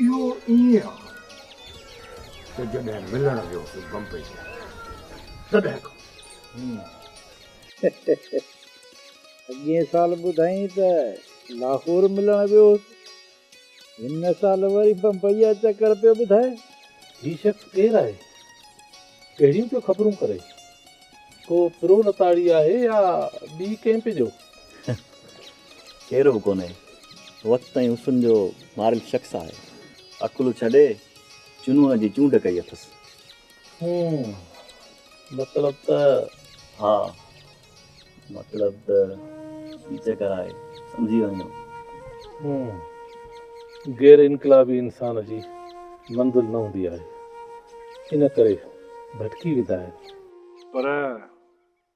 اهو ائين آ ته جڏهن ملڻ ويو هوس بمبئي ۾ تڏهن کان اڳئين سال ٻڌائين ته لاهور ملڻ ويو هوس هن سال وري بمبئي جا چڪر پيو ٻڌائي. هي شخص ڪير آهي؟ ڪهڙيون پيو خبرون ڪري؟ ڪو پرو لتاڙي آهي يا ٻي ڪنهن پي جو؟ ڪير به ڪونهي وقت ۽ حسن جو ماريل شخص آهي. عقل ڇڏي جنون جي چونڊ ڪئي اٿس. هون مطلب ته ها مطلب ته هي چڪر آهي سمجهي وڃو. هون غير انقلابي انسان جي منزل نه هوندي آهي ان ڪري ڀٽڪي ويندا آهن. پر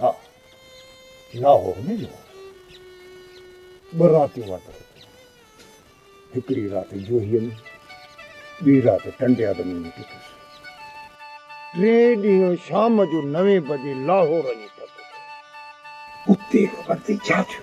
ها لاهور ۾ جو ٻه راتيون وارتو هڪڙي رات جوهي ۾ ٻي رات ٽنڊي آدمي ۾ ڪيتس ٽي ڏينهن شام جو نوين بجي لاهور اچي پهتو اتي خبر ٿي ڇا ٿيو.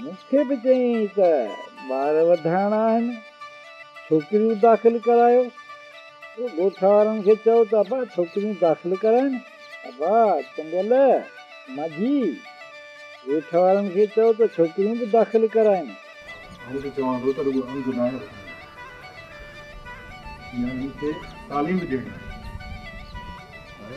مون کي به چيائين ته ٻار وڌائڻا آهن، ڇوڪريون داخل ڪرايو. پوء ڳوٺ وارن کي چئو ته ابا ڇوڪريون داخل ڪرائين. ابا چنڊيل، ماجي، ڳوٺ وارن کي چئو ته ڇوڪريون به داخل ڪرائين. آئون ته چوان ٿو ته رڳو عرض ناهي وٺڻي، نياڻين کي تعليم به ڏيڻي آهي.